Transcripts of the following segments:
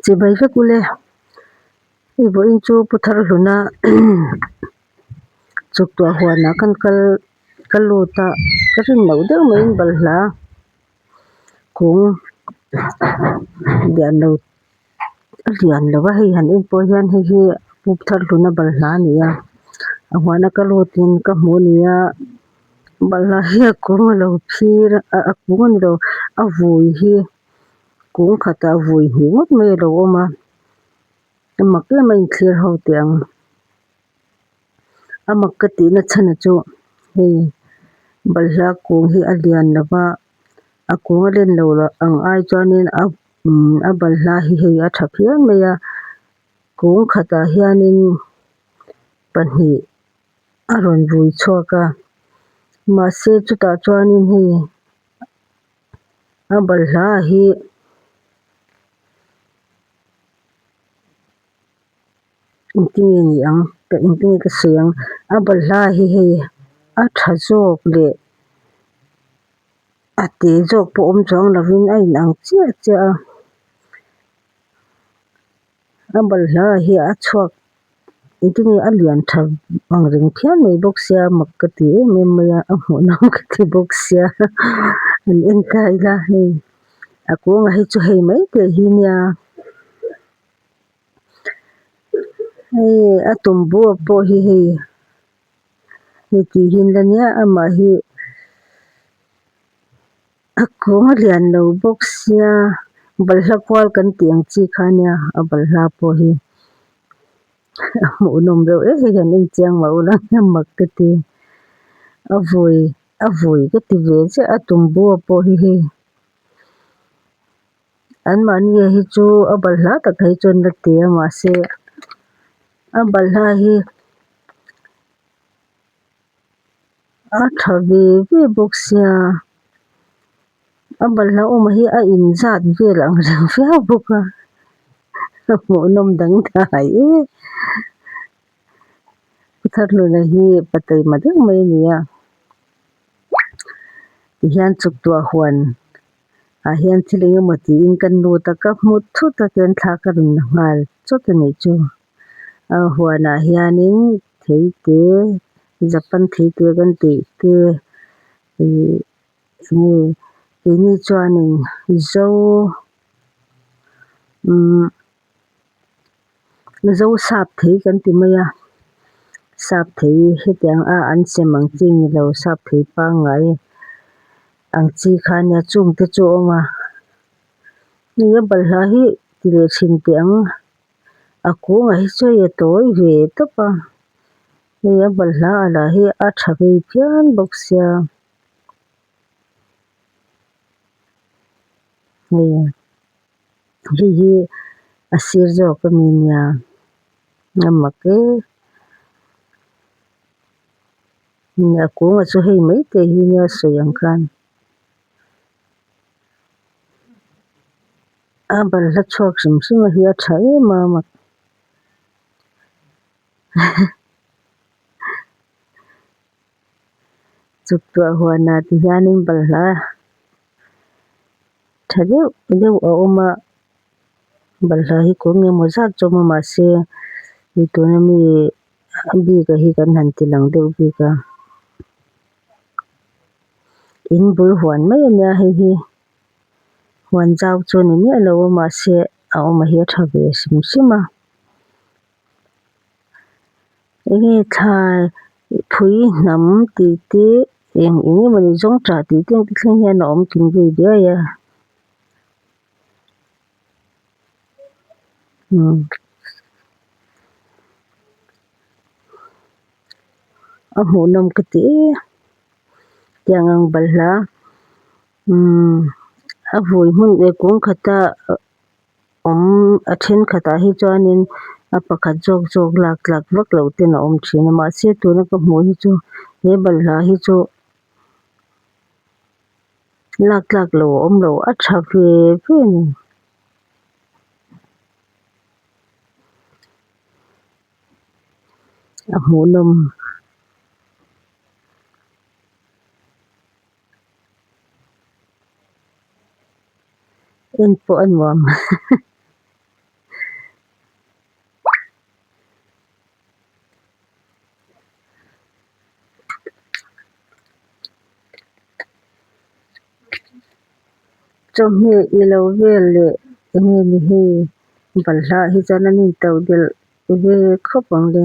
Chibai vek ule, i vawiin chu pu Tharhluna tuktuah huanah kan kal ka lut a, ka rinno deuh maiin balhla kung lianlo a lian lo va, hei han en pawh hian hei hi pu Tharhluna balhla a ni a, a huana ka lutin ka hmu a nia, balhla hi a kung a lo phir a, a kung a ni lo, a vui hi. kung khatah vui hnih ngawt mai a lo awm a, a mak em a inthiar ho teh ang. A mak ka tihna chhana chu hei balhla kung hi a lian lo va, a kung a len lo loh ang ai chuanin a umm a balhla hi hei a tha phian mai a, kung khatah hianin pahnih a rawn vui chhuak a, mahse chutah chuanin hei-- A balhla hi engtin nge ni ang tah engtin nge ka sawi ang a balhla hi hei a tha zawk leh a te zawk pawh awm chuang lovin a inang chiah chiah a. A balhla hi a chhuak engtin nge a lian tha ang reng phian mai bawk sia mak ka ti em em mai a a hmuh lam ka ti bawk sia an en kai la hei a kawngah hi chu hei mai te hi nia hei a tumbua pawh hi hei hetihin la nia amah hi-- A kawng a lian lo bawk sia, balhla kual kan tih ang chi kha nia, a balhla pawh hi a hmuhnawm reuh reuh hi hian inchiang mah ula hnia mak ka ti. A vawi, a vawi ka ti ve chiah a tumbua pawh hi hei an mahnia hi chu a balhla tak hi chuan la ti a mahse a balhla hi. A tha ve ve bawk sia. A balhla awmah hi a in zat vel ang reng viau bawk a. A hmuh nawm dang dai e. Pu Tharhluna hi pateima deuh mai a ni a. Tihian chuktuah huan ah hian thil engemaw tiin kan lut a ka hmu thut a tian thla ka rawn la nghal chawt a nih chu. a huanah hianin thei te Japan thei te kan tih te ihh enge keini chuanin zo umm zo sap thei kan ti mai a, sap thei hetiang a an chem ang chi ni lo sap thei pangngai ang chi kha a nia chungte chu a awm a hei a balhla hi ti leh chhin teh ang. a kûngah hi chuan i tawi ve tawp a, hei a balhla alah hi a ṭha vei phian bawk sia. Hei hei hi a sir zawk a ni nia, a mak e. Hei a kûngah chu hei maite hi nia a sawi ang khan. A balhla chhuak hrim hrima hi a tha em a mak tuktuah huana ti hianin balhla tha deuh deuh a awm a balhla hi kawng emaw zat chu a awm a mahse hei tuna mi bik a hi kan han ti lang deuh bik a in bul huan mai a nia hei hi. Huan zau chu ni miah lo a mahse a awmah hi a tha ve hrim hrim a. Enge thlai phui hnam tih te eng eng emaw ni zawng tah tih te engte thleng hian a awm kim daih daih a. Umm a hmuhnawm ka ti e tiang ang balhla. A vui hmun leh kung khata awm a then khatah hi chuanin a pakhat zawk zawk lak lak vak loh ten a awm thin a mahse tuna ka hmuh hi chu he balhla hi chu lak lak lo awm lo a tha ve ve a ni. Heng pawh a nuam chawhmeh i lo vel leh enge ni hei balhla hi chuan an in tauh belh ve khawp ang le.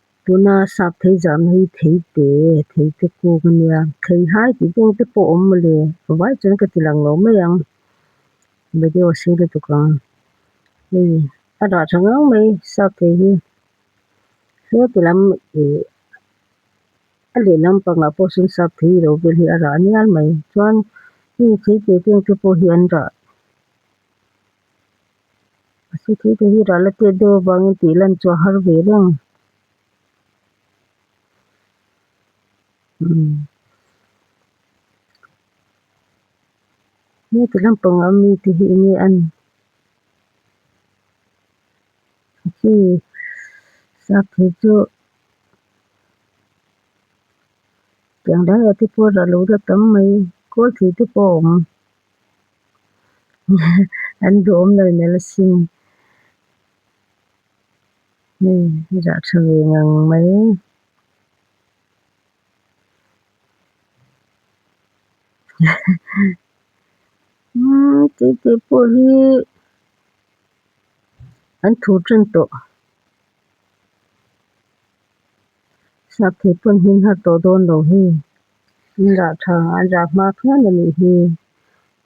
Tuna sap thei zahna hi theite, theite kung a nia. Theihnai tih deuh te pawh awm mawle, vai chuan ka tilang lo mai ang. Video a sir lutuk ang. Hei a rah tha ngang mai sap thei hi. Heng ti lam ih a leh lam pangah pawh sawn sap thei ilo vel hi a rah nial mai. Chuan hei theite deuh te pawh hi an rah A si thei tur hi rah la tet deuh avangin tih lan chhuah har ve reng. Umm heti lam panga mi te hi eng nge a ni? Khi sak thei chu kiangdaiate pawh a rah lo deuh tam mai. Khawl thei te pawh a awm. An duhawm lo nalh asin hei hi zah tha ve ngang mai tute pawh hi an thu tan tawh. Hriat theih pawn hi nghat tawh dawn lo hi. Indah tha an rak nghak hian a nih hi.